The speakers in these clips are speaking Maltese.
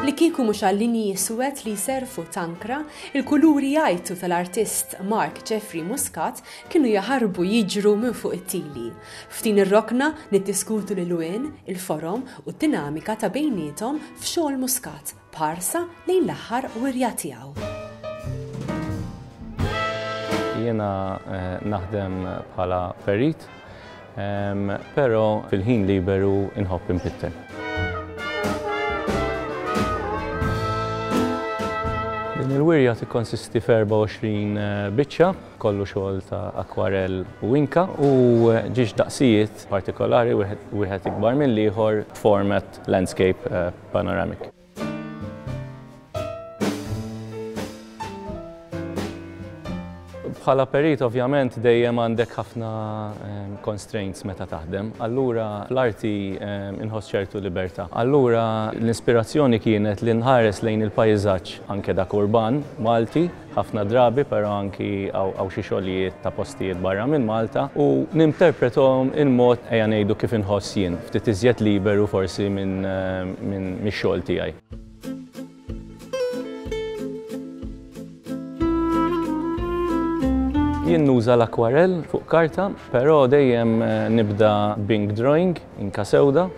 Li kieku mhux għal-linji iswed li jserfu tankra, il-kuluri jgħajtu tal-artist Mark Jeffrey Muscat kienu jaħarbu jiġru minn fuq it-tili. F'din ir-rokna niddiskutu l-ilwien, il-forom u d-dinamika ta' bejniethom f'xogħol Muscat. b'ħarsa lejn l-aħħar wirja tiegħu. Jiena naħdem bħala perit, però fil-ħin liberu inħobb inpittel. Din il-wirja tikkonsisti f'24 eh, biċċa, kollu xogħol ta' akwarell u inka u eh, ġiex daqsijiet partikolari wieħed ikbar mill-ieħor format landscape eh, Panoramic. Bħala perit ovvjament dejjem għandek ħafna ehm, constraints meta taħdem, allura l-arti ehm, inħoss ċertu libertà. Allura l-ispirazzjoni kienet li nħares lejn il-pajzaġġ anke dak urban Malti ħafna drabi, però anki hawn xi xogħlijiet ta' postijiet barra minn Malta u ninterprethom il-mod, ejja ngħidu kif inħoss jien, ftit iżjed liberu forsi mix-xogħol tiegħi. Jien nuża l-akwarell fuq karta, però dejjem nibda b'ink drawing, inka sewda,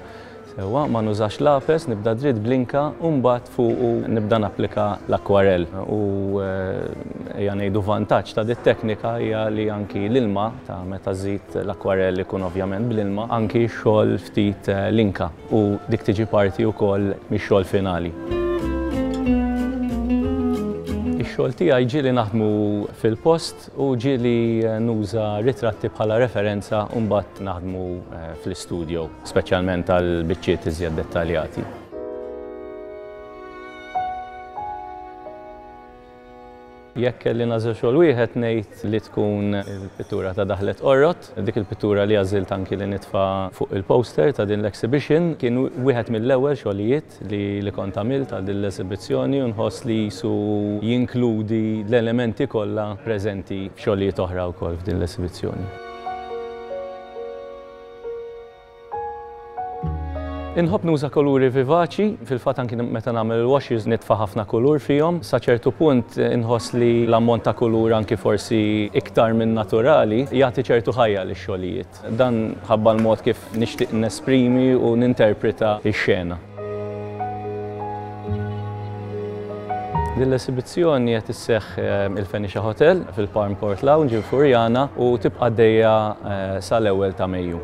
Sewwa, ma nużax lapes, nibda dritt bl-inka u mbagħad fuqu nibda napplika l-akwarell. U ejja ngħidu vantaġġ ta' dit-teknika hija li anki l-ilma ta' meta żżid l-akwarell ikun ovvjament bl-ilma, anki x-xogħol ftit l-inka u dik tiġi parti wkoll mix-xogħol finali. Ix-xogħol tiegħi ġieli naħdmu fil-post, U ġieli nuża ritratti bħala referenza u mbagħad naħdmu fl-istudjo, speċjalment għal biċċiet iżjed dettaljati. Jekk kelli nagħżel xogħol wieħed ngħid li tkun il-pittura ta' Daħlet Qorrot, dik il-pittura li għażilt anki li nitfa' fuq il-poster ta' din l-exhibition, kien wieħed mill-ewwel xogħlijiet. l-effett li li kont għamilt għal din l-esibizzjoni u nħoss li qisu jinkludi l-elementi kollha preżenti f'xogħlijiet oħra wkoll f'din l-esibizzjoni. Inħobb nuża kuluri vivaċi, fil-fatt anki meta nagħmel il-washes nitfa' ħafna kulur fihom. Sa ċertu punt inħoss li l-ammont ta' kulur anki forsi iktar minn naturali jagħti ċertu ħajja lix-xogħlijiet. Dan ħabba l-mod kif nixtieq nesprimi u ninterpreta x-xena. Din l-esibizzjoni qed isseħħ il-Fenicia Hotel fil-Palm Court Lounge il-Furjana u tibqa' għaddejja sal-ewwel ta' Mejju.